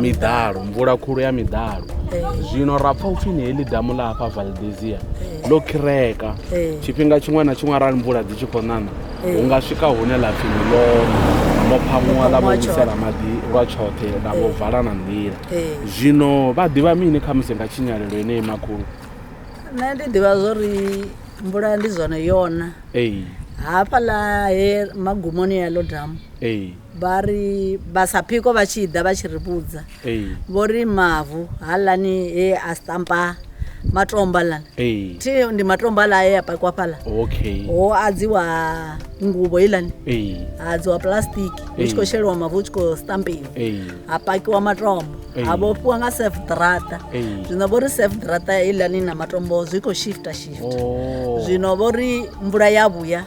miḓalo mvula khulu ya miḓalo eh. zwino ra pfa upfhi ni heḽi damu ḽa hafha valdesia eh. ḽo khireka eh. tshifhinga tshiṅwe na tshiṅwe arali mvula dzi tshi khou ṋaṋa hu nga swika hune ḽa pfhi ni ḽone ḽo phamuwa ḽa vhowisela maḓi lwa tshoṱhe ḽa vho vala na nḓila zwino vha ḓivha mini kha musi nga tshinyalelo enei makhulu nṋe ndi ḓivha zwo ri mvula ndi zwone yona hafhaḽa he magumoni ya ḽo damu vha ri vha sa phiko vha tshi ḓa vha tshi ri vhudza vho ri mavu haḽani he a stampa matomba lana thi ndi matomba la e a pakwa fhala okay ho adziwa ngubo ilani ha adziwa plastic hu tshi khou sheliwa mavu hu tshi khou stampiwa ha pakiwa matombo ha vhofhiwa nga sef drata zwino vho ri sef drata ilani na matombo zwi khou shifta shifta oh. zwino vho ri mvula ya vhuya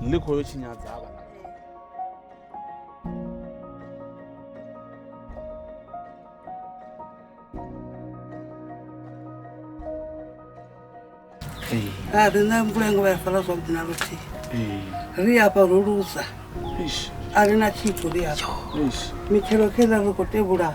ḽi khou yo tshinyadza vha a ri na mvula ngo vha ya fara zwavhuḓi na luthihi ri afha ro luza a ri na tshithu ri afha mitshelo kheḽa ri khou tevhula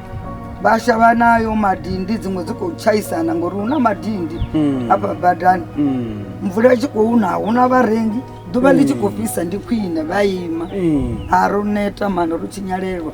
vashavha nayo madindi dzimwe dzi khou tshaisana ngori hu na madindi hmm. afha badani hmm. mvula itshi khou na huna vharengi ḓuvha ḽi tshi khou hmm. fhisa ndi khwine vha ima ha ro neta mana ro tshinyalelwa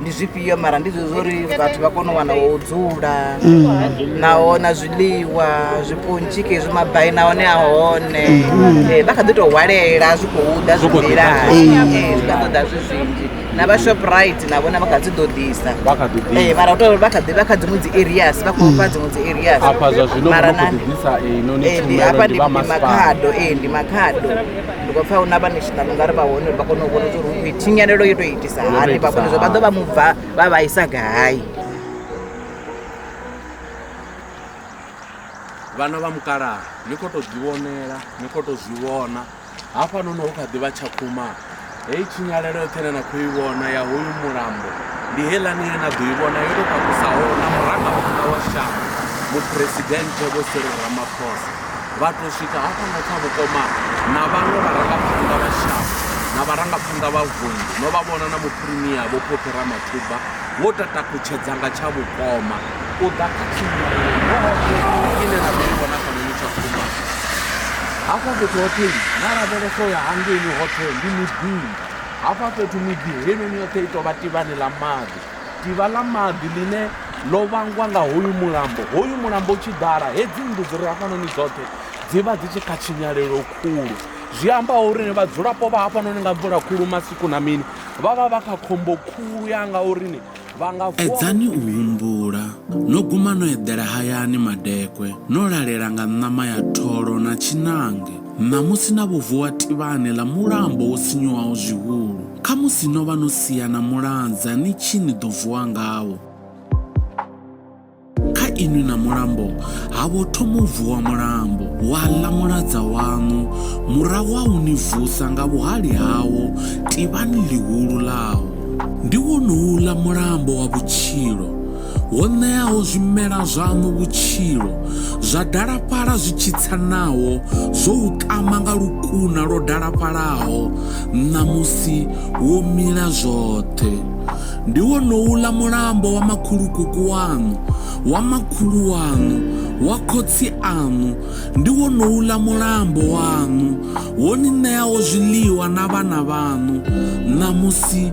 ndi zwifhio mara ndi zwezwo uri vhathu vha kone u wana wo dzula mm. naho na zwiḽiwa zwipontshi kezwi mabai nahone a hone mm. eh, vha kha ḓi tou hwalela zwi khou ḓa zwimbilani mm. eh, zwi kha ḓo ḓa zwi zwinzhi na vha shoprite na vhona vha kha dzi ḓo ḓisa eh, mara uto vha kha ḓi vha kha dziṅwe dzi areas vha khou fha dziṅwe dzi areas mara nandi hafha ndi makhado ee ndi makhado ndi khou pfa hu na vha national ungari vha hone uri vha kone u vhona uri hu khou itinyalelo yo tou iti vhaitisa hani vha vhone zwa vha ḓo vha mubva vha vhaisa gai vhana vha mukalaha ni khou tou ḓivhonela ni khou tou zwi vhona hafha nono hu kha ḓi vha tshakhuma heyi tshinyalelo yoṱhe ine na khou i vhona ya hoyu mulambo ndi heiḽani ine na ḓo i vhona yo tou takusaho na murangaphanḓa wa shango muphuresidennde vho serero ramaphosa vha tou swika hafha na kha vhukoma na vhaṅwe vharangaphanḓa vha shango na vharangaphanḓa vha vundu no vha vhona na muphirimiya vho phophi ramathuba vho tatakutshedza nga tsha vhukoma u ḓa kha tshimulayohoṱhe ine na ḓo i vhona kha noni tsha kuma hafha fhethu hoṱhe na lavhelesa u ya hangeini hoṱhe ndi miḓini hafha fhethu miḓi heinoni yoṱhe i tou vha tivhani ḽa maḓi Ḓivha ḽa maḓi ḽine ḽo vhangwa nga hoyu mulambo, hoyu mulambo u tshi ḓala, hedzi nnḓu dzi re hafhanoni dzoṱhe dzi vha dzi tshi kha tshinyalelo khulu. Zwi amba uri ni vhadzulapo vha hafhanoni nga mvula khulu masiku na mini vha vha vha kha khombo khulu ya nga uri ni vha nga vuwa. Edzani u humbula, no guma no eḓela hayani madekwe, no lalela nga ṋama ya tholo na tshiṋange, ṋamusi na vho vuwa tivhani ḽa mulambo wo sinyuwaho zwihulu. Khamusi no vha no sia na mulanza ni tshi ni ḓo vuwa ngawo. Kha inwi na mulambo ha vho thoma u vuwa mulambo wa ḽa muladza waṋu, murahu ha u ni vusa nga vhuhali hawo tivhani ḽihulu ḽawo. Ndi wonouḽa mulambo wa vhutshilo. Ho ṋeaho zwimela zwaṋu vhutshilo, zwa dalafhala zwi tshi tsa naho zwo u ṱama nga lukuna lwo dalafhalaho ṋamusi wo mila zwoṱhe. Ndi wonouḽa mulambo wa makhulukuku waṋu, wa makhulu waṋu, wa khotsi aṋu, ndi wonouḽa mulambo waṋu, wo ni ṋeaho zwiḽiwa na vhana vhaṋu ṋamusi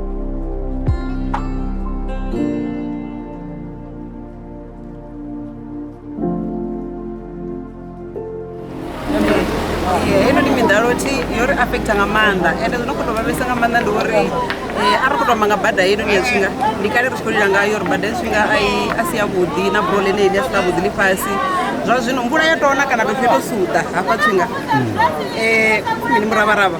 heinoni miḓalo thi yo ri affecta nga maanḓa ende zwi no khou tou vhavhesa nga maanḓa ndi uri a ri khou tou amba nga bada heinoni ya zwinga ndi kale ri tshi khou lila ngayo uri bada ya zwinga a si yavhuḓi na bulo ḽene ḽi a swika vhuḓi ḽifhasi zwa zwino mvula ya tona kana tou fheto suḓa hafha tshinga mini muravharavha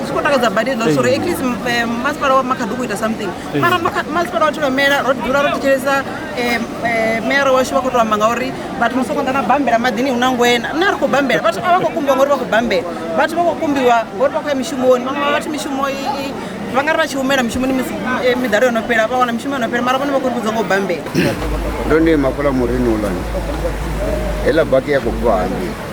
zwi khou takadza badi hezwo sori at least eh, masipala wa makhaḓi u khou ita something mara masipala wa thivhamela ro dzula ro thetshelesa eh, eh, mera washu vha khou to amba ngauri vhathu no sokonḓa na bambela maḓini hu na ngwena nṋe ri khou bambela vhathu a vha khou kumbiwa ngori vha khou bambela vhathu vha khou kumbiwa ngori vha khou ya mishumoni vhaṅwe vha vhathu mishumo vha nga ri vha tshi humela mishumoni miḓalo yo no fhela vha wana mishumo yo no fhela mara vhone vha khou ri vhudza ngo bambela ndo ndi mafula murini ulani heḽa baki ya khou bva hangei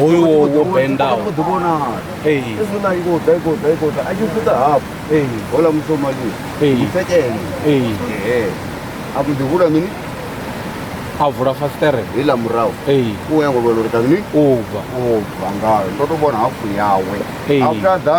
hoyu wo wo bendaho ḓi vhona ee ezwi na iko ḓa iko ḓa iko ḓa a tshi futa hafhu ee hola musomali Ee. mutsekene ee ee a mbo ḓi hula mini a vula fasiṱere heila murahu ee u ya ngo vhona uri kani u bva u bva ngayo ndo to vhona hafhu yawe Ee. after ḓa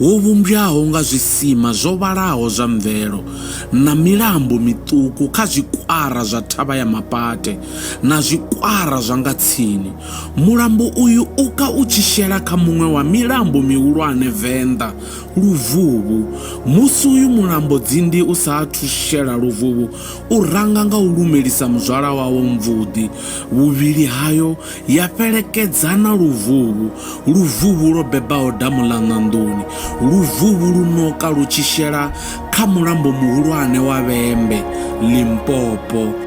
wo vhumbwaho nga zwisima zwo vhalaho zwa mvelo na milambo miṱuku kha zwikwara zwa thavha ya mapate na zwikwara zwa nga tsini. Mulambo uyu u ka u tshi shela kha muṅwe wa milambo mihulwane venḓa Luvhuvhu. Musi uyu mulambo Dzindi u sa athu shela Luvhuvhu, u ranga nga u lumelisa muzwala wawo mvuḓi, vhuvhili hayo ya fhelekedza na luvhuvhu, luvhuvhu lwo bebaho damu ḽa ṋanḓuni, luvhuvhu lu noka lu tshi shela kha mulambo muhulwane wa Vhembe, Limpopo.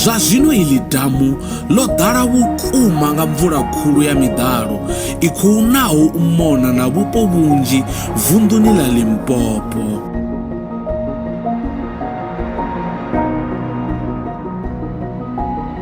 Zwa zwino iḽi damu ḽo ḓala vhukuma nga mvula khulu ya miḓalo i khou naho u mona na vhupo vhunzhi vunḓuni ḽa Limpopo.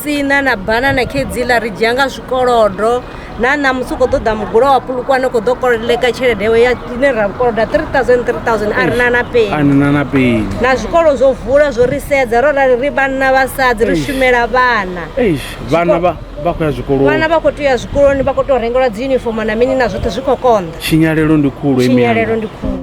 sina na banana khedziḽa ri dzhia nga zwikolodo na ṋamusi u khou ṱoḓa mugulo wa pulukwane u khou ḓo kolodeka tshelede yawe ya ine ra koloda 3000 3000 a ri na na peni a na na peni na zwikolo zwo vula zwo ri sedza ro rali ri vhanna vhasadzi ri shumela vhana vhana vha vha khou ya zwikoloni vhana vha khou tea ya zwikoloni vha khou tou rengelwa dzi uniform na mini na zwoṱhe zwi khou konḓa tshinyalelo ndi khulu tshinyalelo ndi khulu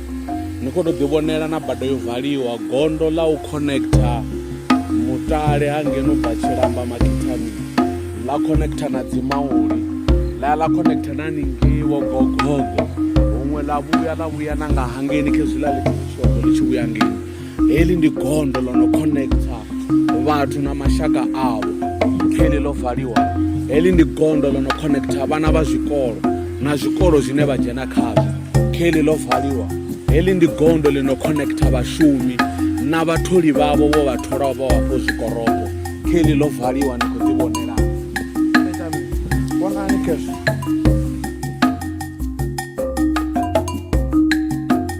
ni khou tou ḓivhonela na bada yo valiwa gondo ḽa u connecta mutale ha ngeno bva tshilamba makithani ḽa connecta na dzimauli ḽa ya ḽa connecta na ningei wo gogogo huṅwe ḽa vhuya ḽa vhuya na nga hangeni khezwiḽa ḽi tshi vhushogo ḽi tshi vhuya ngei heḽi ndi gondo ḽo no connecta vhathu na mashaka avho heḽi ḽo valiwa heḽi ndi gondo ḽo no connecta vhana vha zwikolo na zwikolo zwine vha dzhena khazwo heḽi ḽo valiwa heḽi ndi gondo ḽi no connecta vhashumi na vhatholi vhavho vho vha tholaho vha wafho zwikoroko heḽi ḽo valiwa ni khou ḓi vhonela vhonani khezwo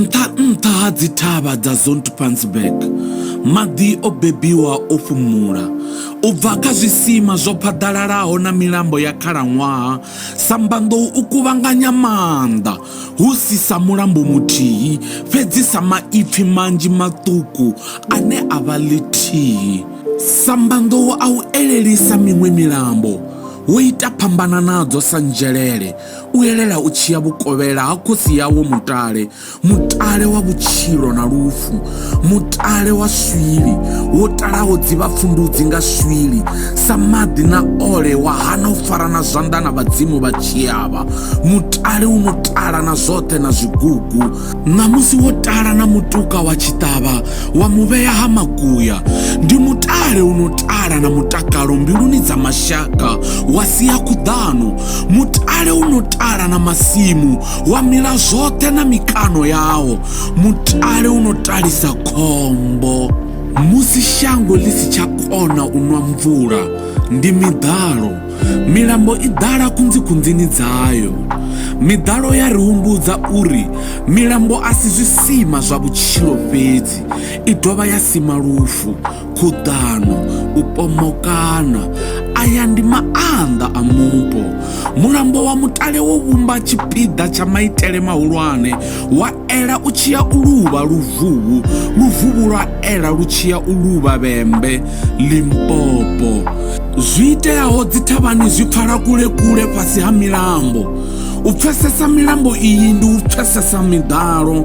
nṱha-nṱha ha dzithavha dza zontpansburg maḓi o bebiwa o fhumula u bva kha zwisima zwo phaḓalalaho na milambo ya khalaṅwaha sambandou u kuvhanganya maanḓa hu si sa mulambo muthihi, fhedzi sa maipfi manzhi maṱuku ane a vha ḽithihi. Sa mbanḓou a u elelisa miṅwe milambo, wo ita phambana nadzo sa nzhelele, u elela u tshi ya vhukovhela ha khosi yawo mutale, mutale wa vhutshilo na lufu. mutale wa swili wo talaho dzivhapfundudzi nga swili sa maḓi na ole wa hana u fara na zwanḓa na vhadzimu vha tshiavha mutale u no tala na zwoṱhe na zwigugu ṋamusi wo tala na mutuka wa tshiṱavha wa muvhea ha makuya ndi mutale u no tala na mutakalo mbiluni dza mashaka wa sia khuḓano mutale u no tala na masimu wa mila zwoṱhe na mikano yawo mutale u no talisa khombo musi shango ḽi si tsha kona u nwa mvula ndi miḓalo milambo i ḓala kunzikunzini dzayo miḓalo ya ri humbudza uri milambo a si zwisima zwa vhutshilo fhedzi i dovha ya sima lufu khuḓano u pomokana aya ndi maanḓa a mupo mulambo wa mutale wo vhumba tshipiḓa tsha maitele mahulwane wa ela u tshiya u luvha luvhuhu luvhuhu lwa ela lu tshiya u luvha vhembe limpopo zwi iteaho dzithavhani zwi pfala kule kule fhasi ha milambo u pfesesa milambo iyi ndi u pfesesa miḓalo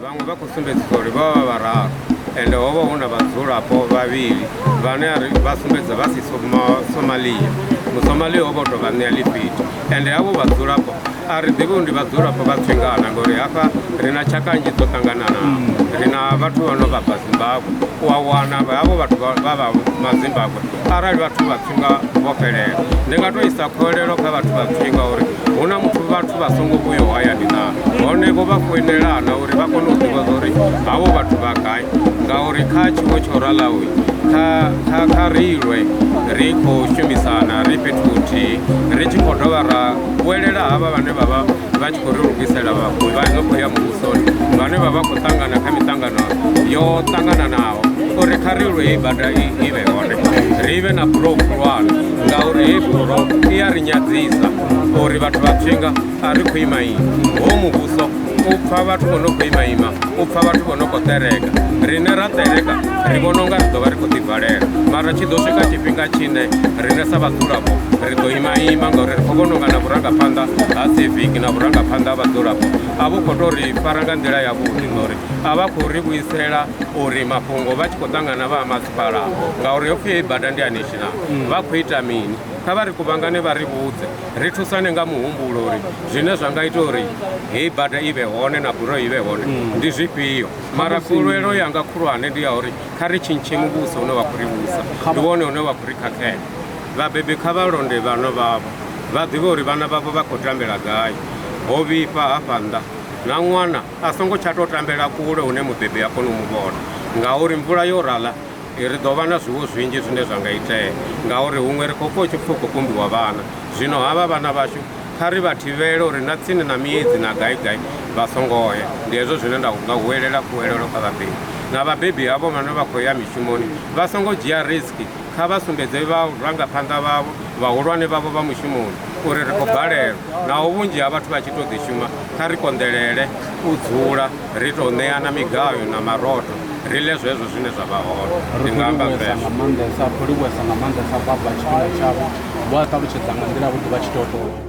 vhaṅwe vha khou sumbedzisa uri vha vha vhararu ende ho vha hu na vhadzulapo vhavhili vhane ari vha sumbedza vha si somalia musomalia ho vha u tou vha ṋea lifhito ende havho vhadzulapo a ri ḓivhi ndi vhadzulapo vha tswingana ngori hafha ri na tshaka nnzhi dzo ṱangananaho ri na vhathu vha no vha bva zimbabwe u a wana havho vhathu vha vha mazimbabwe arali vhathu vha nga vho fhelela ndi nga to isa kholelo kha vhathu vha pfinga uri hu na muthu vhathu vha songo vhuyo hayani na hone vho vha foinelana uri vha kone u ḓivha uri havho vhathu vha gai ngauri kha tshiwo tsho ralaho kha reilwe ri khou shumisana ri fhethu huthihi ri tshi khou dovha ra vhuelela havha vhane vha vha vha tshi khou ri lugisela vhafuwi vha no khou ya muvhusoni vhane vha vha khou ṱangana kha miṱangano yo ṱangananaho uri kha ri lwe hei bada i vhe hone ri vhe na bulo khulwane ngauri hei bulo i ya ri nyadzisa uri vhathu vha tshinga a ri khou ima ini ho muvhuso u pfa vhathu vho no khou imaima u pfa vhathu vho no khou ṱereka rine ra ṱereka ri vhona unga ri ḓo vha ri khou ḓivalela mara tshi ḓo swika tshifhinga tshine rine sa vhadzulapo ri ḓo imaima ngauri ri khou vhona unga na vhurangaphanḓa ha civic na vhurangaphanḓa ha vhadzulapo a vhu khou tou ri fara nga nḓila yavhuḓi ngauri a vha khou ri vhuisela uri mafhungo vha tshi khou ṱangana vha ha masipala ngauri yo pfhi bada ndi a national vha khou ita mini kha vha ri kuvhangane vha ri vhudze ri thusane nga muhumbulo uri zwine zwa nga ita uri heyi bada i vhe hone na buroyi i vhe hone ndi zwifhio mara kulwelo yanga khulwane ndi ya uri kha ri tshintshe muvhuso une wa khou ri vhusa ndi wone une wa khou ri khakhela Vhabebi kha vha londe vhana vhavho vha ḓivhe uri vhana vhavho vha khou tambela gai ho vhifha hafha nnḓa na ṅwana a songo tsha tou tambela kule hune mubebi a kona u mu vhona ngauri mvula yo rala ri ḓo vha na zwiwo zwinzhi zwine zwa nga itea ngauri huṅwe ri khou pfha u tshi pfhi u khou kumbiwa vhana zwino havha vhana vhashu kha ri vha thivhele uri na tsini na miedzi na gai gai vha songo ya ndi hezwo zwine nda nga huwelela khuwelelo kha vhabebi na vhabebi havho vhane vha khou ya mishumoni vha songo dzhia risk Kha vha sumbedze vharangaphanḓa vhavho, vhahulwane vhavho vha mushumoni uri ri khou balelwa naho vhunzhi ha vhathu vha tshi tou ḓi shuma. Kha ri konḓelele u dzula ri tou ṋeana migayo na marotho ri ḽe zwezwo zwine zwa vha hone. Ndi nga amba zwezwo. Ro livhuwesa nga maanḓesa Baba tshifhinga tshavho, vho a ṱalutshedza nga nḓila yavhuḓi vha tshi tou.